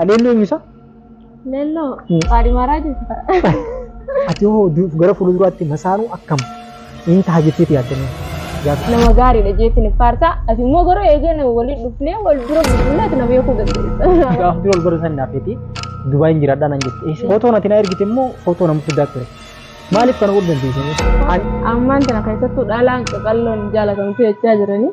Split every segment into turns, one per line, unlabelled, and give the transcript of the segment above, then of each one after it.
Leelloo eenyu isaa? Leelloo
qaadhimaaraa jechuudha. Ati
hoo du- gara fuulduraatti masaanuu akkam in taha jetteeti yaaddanii? Gaafa Nama
gaariidha jeetiin faarsaa. Ati immoo garuu eegeen waliin dhufnee wal dura bulbulee ati na beekuu dandeessa. gaafa dura wal bara san naaf
jettee Dubaayin jiraadhaa nan jette. Footoo nati na ergite immoo footoo nama fiddaa ture. Maaliif kana godhu dandeessanii? Ammaan tana
keessattuu dhalaan qaqalloon jaalatamtu jechaa jiranii.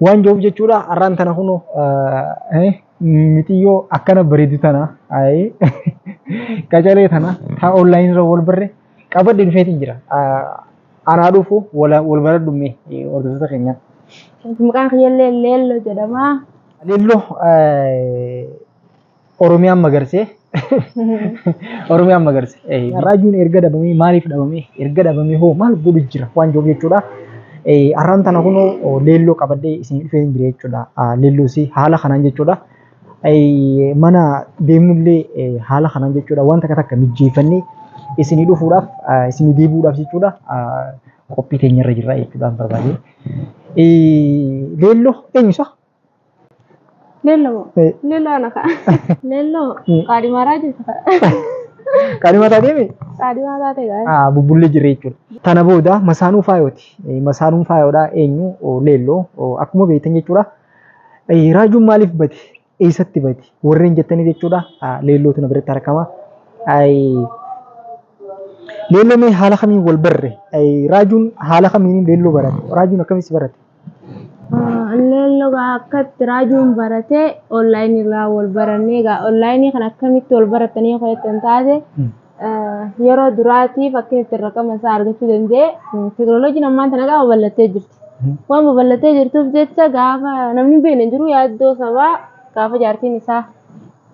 Waan joof jechuudha arraan tana kuno mitiyyoo akkana bareedu tana qacalee tana taa online irra wal barre qabadde dhufeetiin jira. Anaa dhufu wal baradhu mee hordoftoota keenyaa. Maqaan
kiyyallee Leelloo jedhama. Leelloo
Oromiyaan magarse. Oromiyaan magarse. Eh, Raajuun erga dhabamee maaliif dhabamee? Erga dhabamee hoo maal godhu jira waan jiruuf jechuudha. Eh, Har'aan tana kunoo oh, leelloo qabadhee isin dhufee hin jira jechuudha. Ah, Leelloo isii haala kanaan jechuudha. Eh, Mana deemnullee eh, haala kanaan jechuudha. Waan takka takka mijjeeffannee isinii dhufuudhaaf ah, isinii deebi'uudhaaf jechuudha. Ah, Qophii teenyarra jirra jechuudhaan barbaade. Eh, Leelloo eenyusa?
Lello Eh. Lello ana ka'a. Lello Mm. qaadimaaraa jirtu ka'a.
Qaadima taatee mi? Qaadimaa taate
gaa'e. Ah, bubbullee jirre jechuudha.
Tana booda masaanuu faayooti. Eh, Masaanuun faayoodha eenyu Oh, leelloo Oh, akkuma beektan jechuudha. Eh, Raajuun maaliif bade? Eessatti bade? Warreen jettaniif jechuudha. Ah, Leellootu na biratti argama. Ai, Leelloo mee haala kamiin wal barre? Ai, Raajuun haala kamiin leelloo barate? Raajuun akkamitti barate?
Illeen logaa akka itti raajuun baratee online irraa wal barannee egaa online kan akkamitti wal baratanii kan ittiin taate yeroo duraatiif akka ittiin raqama isaa argachuu danda'e teknooloojiin ammaan tana gaafa babal'attee jirti. Waan babal'attee jirtuuf jecha gaafa namni beekne hin jiru yaaddoo sabaa gaafa jaartiin isaa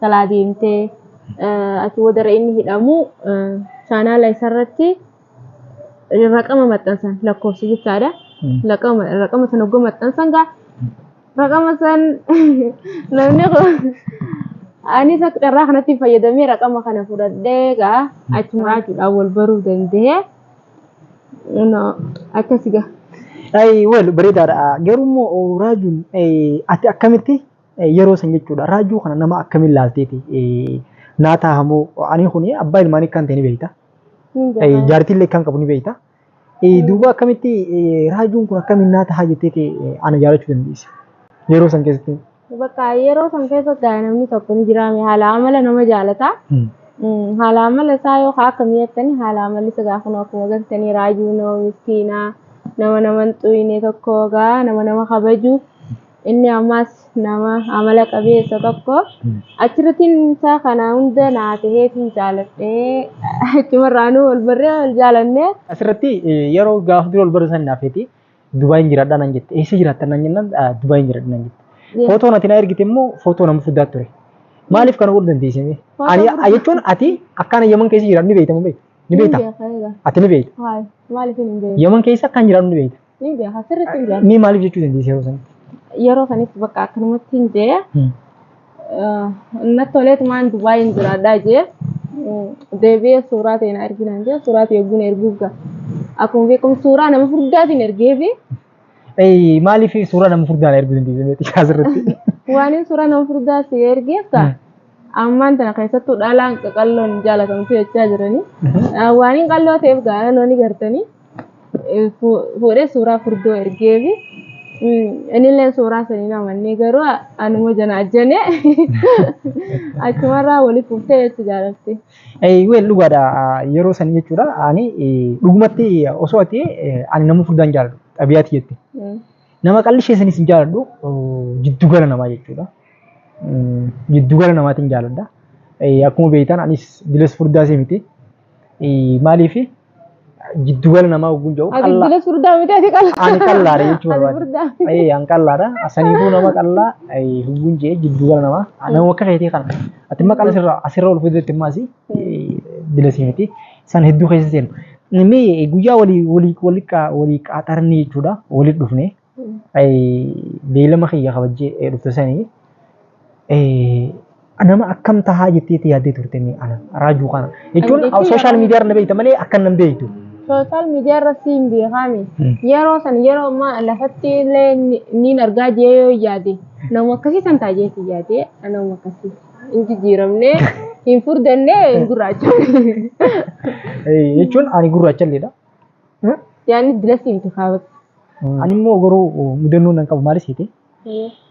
kalaa deemtee achi boodarra inni hidhamu chaanaala isarratti. raqama maxxansan lakkoofsa jechaadha. Raqama raqama san hoggoo maxxansan gaa raqama san namni kun anis akka carraa kanatti fayyadamee raqama kana fudhadhee gaa achuma jechuudhaan wal baruu danda'ee akkasi gaa. Ay, wal
bareedaadha. Garuu immoo raajuun ati akkamitti yeroo san jechuudha. Raajuu kana nama akkamiin laalteeti? Naa taahamoo ani kun abbaa ilmaanii kan ta'e ni beekta. Jaartiin illee kan qabu ni beekta. Duuba akkamitti raajuun kun akkamiin naa tahaa jettee ana jaalachuu dandeesse. Yeroo san keessatti. Bakka yeroo
san keessa gaa namni tokko ni jiraame haala amala nama jaalata. Haala amala isaa yoo akka mi'eettani haala amalli isa gaa kun akkuma gartanii raajuu nama miskiinaa nama nama hin xuyne tokko gaa nama nama kabaju Inni ammas nama amala qabeessa tokko achirrattiin isaa kana hunda naa ta'ee fi jaaladhee achumarraanuu wal barree wal jaalannee. Asirratti
yeroo gaafa dura wal barre san naaf feeti Dubaayin jiraadhaa nan jette eessa jiraattan nan jennaan Dubaayin jiraadha nan jette. Footoo nati naa ergite immoo footoo nama fuddaa ture. Maaliif kana godhu dandeessimee? Ani jechuun ati akkaan yaman keessa jiraadhu ni beektamu beekta. Ni beekta. Ati ni beekta. Maaliif hin beektu?
Yaman keessa akkaan jiraadhu ni
beekta. Ni beeka sirriitti hin
beeka. Mee maaliif jechuu dandeessi yeroo
sanatti? Yeroo sanitti
bakka akkanumatti hin jee Hmm. natti toleetumaan Dubaay hin jiraadhaa jee deebi'ee suuraa ta'e na erginaan jee suuraa ta'e eeguun erguuf ga'a. Akkuma beekamu suuraa nama furdaatiin ergee fi Ee,
Maaliif suuraa nama furdaan erguu dandeessi mee xiqqaa asirratti? waan inni suuraa nama
furdaa si ergeef ta'a. Hmm. Ammaan tana keessattuu dhalaan qaqalloon hin jaalatamtu jechaa jiranii. Waan inni qalloo ta'eef gaa'ela loonii gartanii. fuudhee suuraa furdoo ergeefi inilleen suuraa sanii hin amannee garuu anuma jana ajjane achumarraa waliif fuftee jechi jaalatti. Weel dhugaadha
yeroo sanii jechuudha ani dhugumatti osoo ati ani nama furdaan jaaladhu xabiyaati jette nama qalli ishee sanis hin jaaladhu jiddugala namaa jechuudha jiddugala namaatiin jaaladha akkuma beektan anis dilas furdaa si miti maaliifi Jiddu gala namaa ogguun jedhu Ati qallaa. jila furdaa miti
ati qallaa. Ani qallaadha jechuu Ati
barbaade. furdaa. Ee an
qallaadha.
Asaniifuu nama qallaa ee, hubbuun jee jiddu gala namaa. Ah, Nama akka keetii kana. Ati immoo qalla sirraa asirra ol fideetti immoo asii ee, bila sii miti. San hedduu keessa seenu. Mee guyyaa walii walii walii qaa- walii qaaxarnee jechuudha. Walii dhufnee. beeylama kiyya kabajjee dhufte sanii nama akkam tahaa jetteetti yaaddee turte mee ana raajuu kana jechuun sooshaal miidiyaa irra beeyta malee akkan nan beeytu. Sooshaal miidiyaa irra
siin beekaami. Yeroo san yeroo ammaa lafatti illee niin argaa jee yoo yaade nama akkasii san taajeetti yaade nama akkasii hin jijjiiramne hin furdannee hin gurraachofne. Jechuun
ani gurraachalleedha.
Yaanni dila si miti kaabatti. Ani immoo
garuu mudannoo nan qabu maalis hiite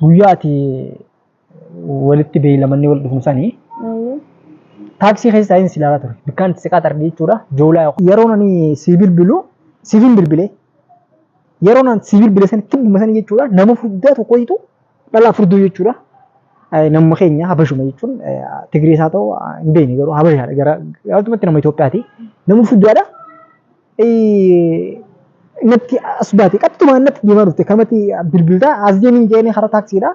guyyaa ati walitti beeylamannee wal dhufnu sani taaksii keessa taa'een si ilaalaa ture bikkaan itti siqaa xargii jechuudha joolaa yookaan yeroon ani si bilbilu siif hin bilbile yeroon ani si bilbile sani tibbuma sani jechuudha nama furdaa tokko hiitu Dhalaa furduu jechuudha. Namuma keenya habashuma jechuun Tigirees haa ta'u hin beekne garuu habashaadha gara gabaabumatti nama Itoophiyaati. Nama furdaadha. Natti as baate qaxxumaa natti deemaa dhufte kanumatti bilbilta as deemiin jedhanii hara taaksiidha.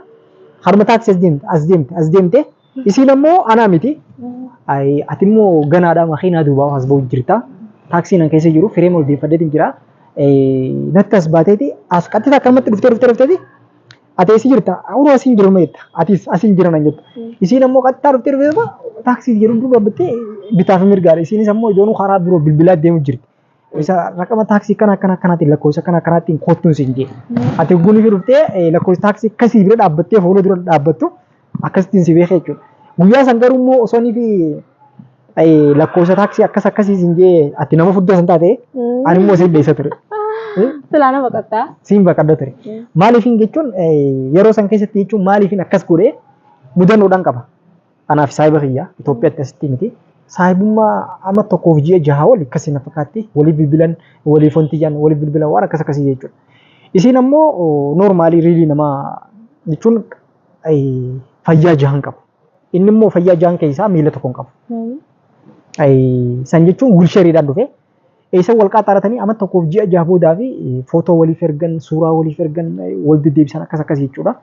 Haruma taaksii as deemte as deemte as deemte. Isiin ammoo anaa miti. Ayi ati immoo ganaadha makiinaa duubaa as ba'u jirta. Taaksiin an keessa jiru firee molbeeffadeetiin jira. Natti as baateeti as qaxxee takka ammatti dhuftee dhuftee dhufteeti. Ati eessi jirta? Uruu asiin jiru meetta. Atis asiin jira nan jetta. Isiin ammoo qaxxaa dhuftee dhuftee taaksii jedhu duuba bittee bitaaf mirgaadha. Isiinis ammoo ijoonu karaa biroo bilbilaa deemu jirti. isa raqama taaksii kana akkana akkanaatiin lakkoofsa akkana akkanaatiin koottuun siin jedhe. Ati ogguun ishee dhuftee lakkoofsa taaksii akkasii bira dhaabbattee fuula dura dhaabbattu akkasittiin si beekee jechuudha. Guyyaa san garuu immoo osoo inni fi lakkoofsa taaksii akkas akkasii siin jedhe ati nama fuddaa san taate ani immoo siin dheessa ture. Silaa nama
qaxxaa. Siin baqadda ture.
Maaliifin jechuun yeroo san keessatti jechuun maaliifin akkas godhee mudannoodhaan qaba. Anaa fi saahiba kiyya Itoophiyaatti asitti miti. Saahibummaa amma tokkoof ji'a jaha oli akkasii na fakkaatti waliif bilbilan waliif wanti jedhan waliif bilbilan waan akkas akkasii jechuudha. Isiin ammoo noormaalii riilii nama jechuun fayyaa jahan qabu. Inni immoo fayyaa jahan keessaa miila tokko hin qabu. San jechuun wiilshariidhaan dhufee Eessan wal qaaxxaaratanii ama tokkoof ji'a jaha boodaa fi footoo waliif ergan, suuraa waliif ergan, wal deddeebisan akkas akkas jechuudha.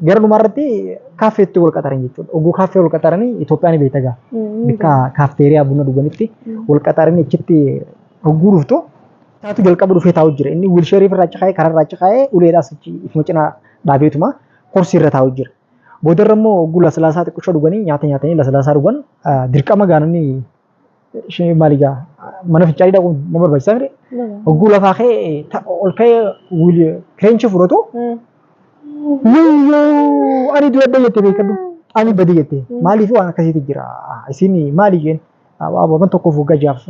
Gara dhumaa irratti kaaffeetti wal qaxaran jechuudha. Oguu kaaffee wal qaxaranii Itoophiyaan beekta gaa. Bakka kaafteeriyaa buna dhuganitti wal qaxaranii achitti hogguu dhuftu taatu jalqaba dhufee taa'u jira. Inni wiilsheerii irraa caqaa'ee karaa irraa caqaa'ee uleedhaas achi ifuma cinaa dhaabeetuma korsii irra taa'u jira. Boodarra immoo hogguu laslaasaa xiqqisho dhuganii nyaata nyaatanii laslaasaa dhugan dirqama gaanonni ishee maal egaa mana fincaanii dhaquun nama barbaachisa mire hogguu lafaa kee ta- ol kee wiil- kireenchii fudhatu miyyoo ani dura adda jette beekadhu ani badi jette maaliif waan akkasiitu jira isin maali jeen ababan tokkoof waggaa jaaf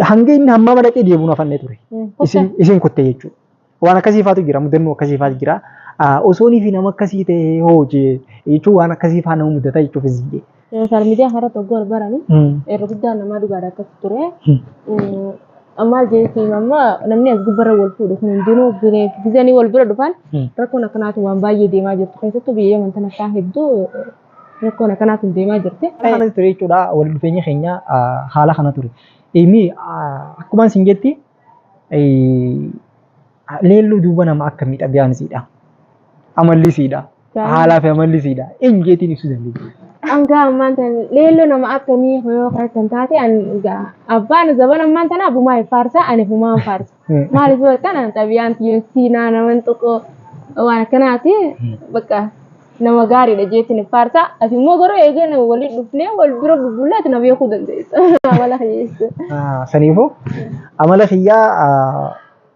hanga inni hammaa madaqee deemuun afannee ture isin isin kutte jechuudha. Waan akkasii faatu jira, mudannoo akkasii faatu jira. Osoonii fi nama akkasii ta'ee hoo jechuun waan akkasii faa nama mudata jechuuf hin ziyye. Sooshaal miidiyaa kanarratti
oguu wal barani irra guddaan namaa dhugaadha akkas ture. Maal jechuun amma namni as gubbarra wal fuudhu kun hundinuu gizanii wal bira dhufan rakkoon akkanaatu waan baay'ee deemaa jirtu keessattuu biyya yaman tana kaan hedduu rakkoon akkanaatu deemaa jirti. Kana ture jechuudha
wal dhufeenya keenya haala kana ture. Inni akkuma isin jetti Leelluu duuba nama akkamii xabiyaan isiidha? Amalli isiidha? Haalaa fi amalli isiidha? Eenyu jeetiin ibsuu dandeenya? Hanga ammaan tan
leelloo nama akkamii yoo kana kan taate an ga- abbaan zaban ammaan tana abumaa hin faarsa ani humaan faarsa. Maaliif yoo ta'an xabiyaan tiyyoo siinaa naman tokko waan akkanaati bakka Nama gaariidha jeetiin hin faarsa. Ati immoo garuu eegee nama waliin dhufnee wal bira bubbullaa ati na beekuu dandeessa. Amala kiyyeessa. Ah, Saniifuu
amala kiyyaa ah,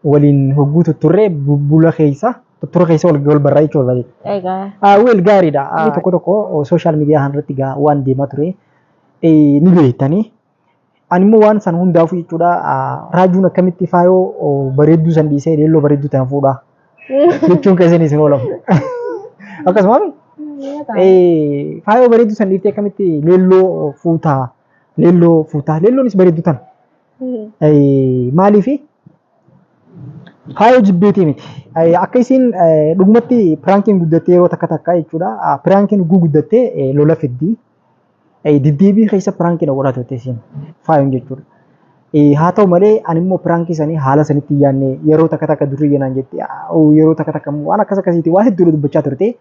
waliin hogguu tutturree bubbula keessa tuttura keessa wal wal barraa jechuudha wal barraa. Egaa. Ah, Weel gaariidha. Ah, Tokko tokko sooshaal miidiyaa kanarratti gaa waan deemaa ture eh, ni beektanii. Ani immoo waan san hundaafuu jechuudha raajuun akkamitti faayoo bareedduu san dhiisee leelloo bareedduu tana fuudha jechuun keessan isin oolamu. Akkasuma faayoo bareedduu san dhiiftee akkamitti leelloo fuuta leelloo fuuta leelloonis bareedduu tana. Maaliifi faayoo jibbeetii miti. Akka isiin dhugumatti piraankiin guddattee yeroo takka takka jechuudha piraankiin ugguu guddattee lola fiddii. Eh, Deddeebii keessa piraankii na godhaa turte isin faayoon jechuudha. Eh, Haa ta'u malee ani immoo piraankii sanii haala sanitti hin yaadne yeroo takka takka durri jenaan jette ah, oh, yeroo takka takka immoo waan akkas akkasiiti waan hedduudha dubbachaa turte.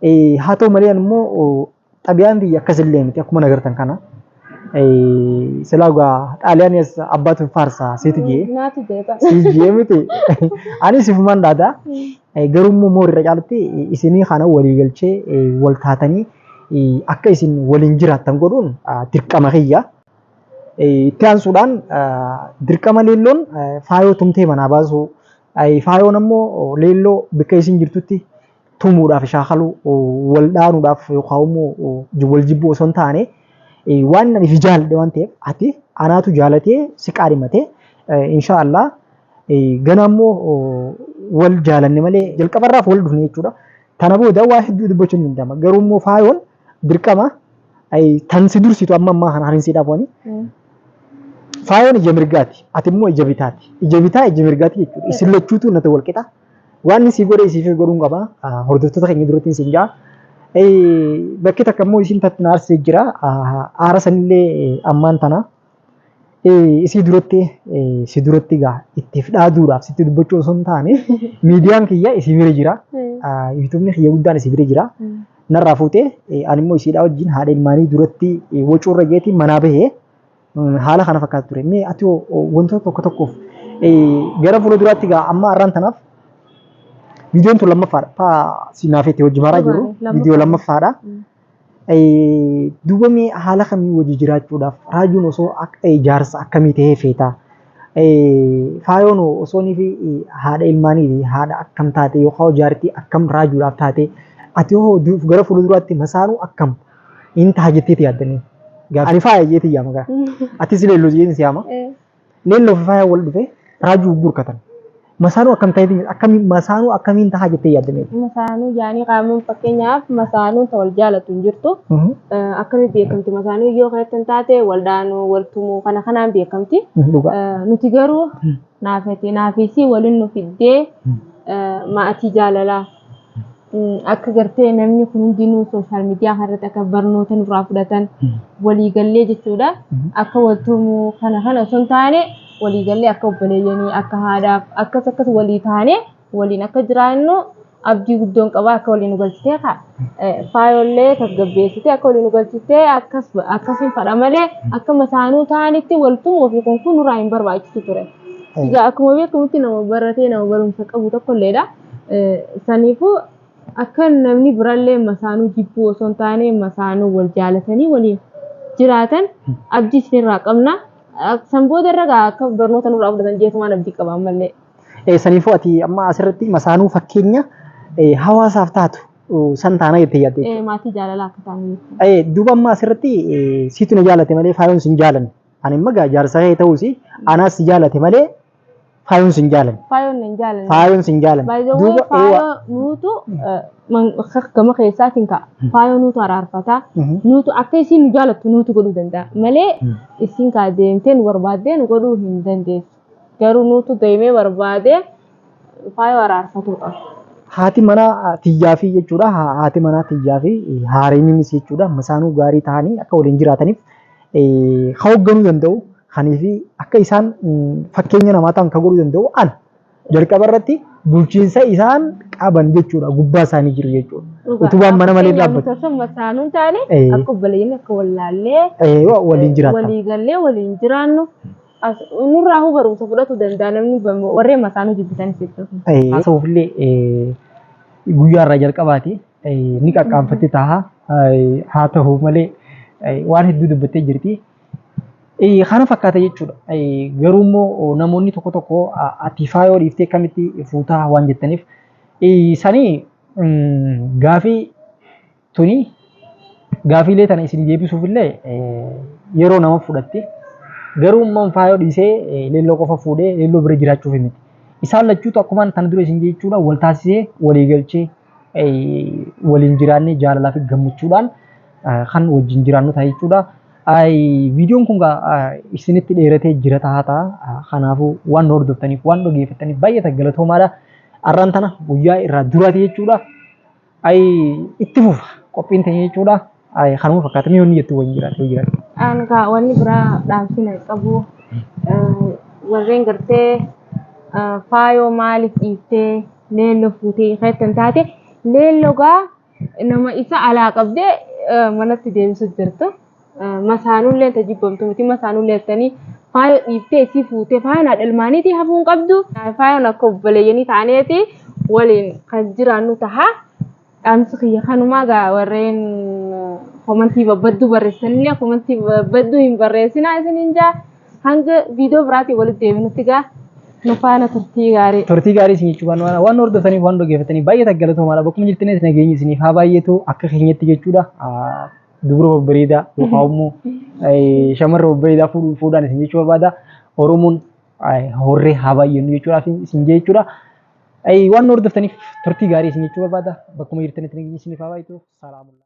Eh, Haa ta'u malee ani immoo oh, xabiyaan biyya akkas illee miti akkuma nagartan kana. Eh, Silaa gaa xaaliyaaniis abbaatu faarsa seeti jee Naati jeetan. si
jee miti
ani sifumaan dhaadaa. Garuu immoo moor irra caalatti isinii kana walii galchee wal taatanii akka isin waliin jiraattan godhuun dirqama kiyya. Itti aansuudhaan dirqama leelloon faayoo tumtee manaa baasuu faayoon ammoo leelloo bakka isin jirtutti tumuudhaaf shaakaluu wal dhaanuudhaaf yookaan immoo wal jibbuu osoo hin taane waan ani fi jaaladhe waan ta'eef ati anaatu jaalatee si qaadhimatee inshaa Allah Ganaa immoo wal jaalanne malee jalqaba irraaf wal dhufne jechuudha. Tana booda waa hedduu dubbachuun ni danda'ama. Garuu immoo faayoon dirqama tan si dursitu amma ammaa kana harinsiidhaaf wani. Faayoon ija mirgaati. Ati immoo ija bitaati. Ija bitaa ija mirgaati jechuudha. Isin lachuutu nata wal qixa. Waan isii godhe isiif godhuun qaba. Hordoftoota keenya duratti isin ja'a. Bakki takka immoo isin tatti na aarsee jira. Aara sanillee ammaan tana. isii duratti si duratti gaa ittiif dhaaduudhaaf sitti dubbachuu osoo hin taane miidiyaan kiyya isii bira jira yuutuubni kiyya guddaan isii bira jira narraa fuutee ani immoo isiidhaa wajjin haadha ilmaanii duratti wacuurra jeetiin manaa bahee haala kana fakkaatu ture mee ati wantoota tokko tokkoof gara fuula duraatti gaa amma har'aan tanaaf viidiyoon tun lammaffaadha taa si naafeetti hojii maaraa jiru viidiyoo lammaffaadha. Duuba mee haala kamiin wajji jiraachuudhaaf raajuun osoo jaarsa akkamii ta'ee feeta? Faayoon hoo osoo nifi haadha ilmaaniiti haadha akkam taate yookaan jaartii akkam raajuudhaaf taate? Ati hoo gara fuulduraatti masaanuu akkam hin taha jetteeti yaadda? Ani faaya jeetiin yaama gaa. Atis leelloo jeetiin si yaama. Leelloo fi faayaan wal dhufee raajuu hogguu hirkatan. Masaanuu akkam ta'eetii jette? Akkamiin masaanuu akkamiin tahaa jettee yaadda mee? Masaanuu jaanii
qaamuun fakkeenyaaf masaanuun ta wal jaalatu hin jirtu. Mhm. Eh, Akkamiin beekamti masaanuu yoo kan ittiin taate wal dhaanuu wal tumuu kana kanaan beekamti. Mhm, Dhugaa. Eh, Nuti garuu naafati naafisii waliin nu fiddee eh, maatii jaalalaa. akka gartee namni kun hundinuu sooshaal miidiyaa kanarratti akka barnoota nurraa fudhatan waliigallee jechuudha. Akka waltumuu kana kana osoo hin taane waliigallee akka obboleeyyanii akka haadhaaf akkas akkas walii taane waliin akka jiraannu abdii guddoon qaba akka waliin nu galchitee kaa faayollee tasgabbeessitee akka waliin nu galchitee akkas akkasiin fadha malee akka masaanuu taanitti waltumuu fi kun kun nurraa hin barbaachisu ture. Egaa akkuma beekamutti nama baratee nama barumsa qabu tokkolleedha. Saniifuu akka namni birallee masaanuu jibbuu osoo hin taane masaanuu wal jaalatanii waliin jiraatan abdii isinirraa qabna. San booda irra gaa akka barnoota nurraa fudhatan jeetumaan abdii qaba ammallee. Eh, Saniifuu ati
amma asirratti masaanuu fakkeenya eh, hawaasaaf taatu eh, san taana jettee yaadde jechuudha. Eh, Maatii jaalalaa akka taanu
jechuudha. Eh, duuba amma asirratti
eh, siitu na jaalate malee faayoon sin jaalanne. Ani immoo gaa jaarsa kee ta'uusi anaas si jaalate malee Faayoon sin jaalan. Faayoon hin jaalanne. Faayoon sin jaalan. By the way, Duuba eewaa. faayoo
nuutu eh, man- akka- gama keessaatiin ka'a. Faayoo nuutu araarfataa. Mhm. Nuutu akka isiin nu jaalattu nuutu godhuu danda'a. Malee Mm. isiin kaa deemtee nu barbaaddee nu godhuu hin dandeessu. Garuu nuutu deemee barbaadee faayoo araarfatuu qaba. Haati manaa
tiyyaa fi jechuudha. Ha- Haati manaa tiyyaa fi haareenis jechuudha. Masaanuu gaarii ta'anii akka waliin jiraataniif ka hoogganuu danda'u kanii fi akka isaan fakkeenya namaa ta'an ka godhuu danda'u ana. Jalqaba irratti bulchiinsa isaan qaban jechuudha gubbaa isaanii jiru jechuudha. Utubaan mana malee dhaabbatu. Akkuma saanuun taane
akka obboleeyyiin akka wallaallee waliin jiraatan.
walii gallee waliin
jiraannu nurraa huu barumsa fudhatu danda'a namni warreen masaanuu jibbitan jechuudha. Haasa'uufillee
guyyaa irraa jalqabaati. ni qaqqaanfatti taha haa tahu malee waan hedduu dubbattee jirti. Kana fakkaata jechuudha. Garuu immoo namoonni tokko tokko ati faayoo dhiiftee kamitti fuutaa waan jettaniif sanii gaafii tuni gaafiilee tana isin deebisuuf illee yeroo nama fudhatti. Garuu immoo faayoo dhiisee leelloo qofa fuudhee leelloo bira jiraachuuf miti. Isaan lachuutu akkumaan tana dura isin jechuudha wal taasisee walii galchee waliin jiraannee jaalalaa fi gammachuudhaan kan wajjin jiraannu ta'a jechuudha. Viidiyoon kun isinitti dheeratee jira ta'a ta'a. Kanaafuu waan hordoftaniif waan dhaggeeffattaniif baay'ee galatoomaadha. Arraan tana guyyaa irraa duraati jechuudha. Itti fufa qophiin ta'e jechuudha. Ay, kanuma fakkaata
mee wanni
jettu wayii jiraate yoo
jiraate.
Ani kaa
wanni
biraa dhaamsiin hin
qabu.
Eh,
Warreen gartee eh, faayoo maaliif dhiiftee leelloo fuutee keettan taate leelloo gaa nama isa alaa qabdee eh, manatti deebisu jirtu. Eh, Masaanullee ta jibbamtu miti masaanullee jettanii faayoo dhiiftee isii fuutee faayoon haadha ilmaaniitii hafuu hin qabdu. Eh, Faayoon akka obboleeyyanii taaneeti waliin kan jiraannu taha. Dhaamsi kiyya kanumaa gaa warreen komantii babbadduu barreessanillee komantii babbadduu hin barreessinaa isiniin jaa hanga viidiyoo biraatiin walitti deebinutti gaa nu faana turtii gaarii. Turtii gaarii isin jechuu waan
waan waan hordoftaniif waan dhaggeeffataniif baay'ee taggalatomaadha bakkuma jirtanis nageenyi isiniif haa baay'eetu akka keenyatti jechuudha. Dubra babbareedaa yookaan immoo shamarra babbareedaa fuudhu- fuudhaan isin jechuu barbaada. Oromoon horree haa baay'ennu jechuudhaaf isin jechuudha. Waan nu hordoftaniif turtii gaarii isin jechuu barbaada. Bakkuma jirtanitti nageenya isiniif haa baay'atu. Salaamullaah.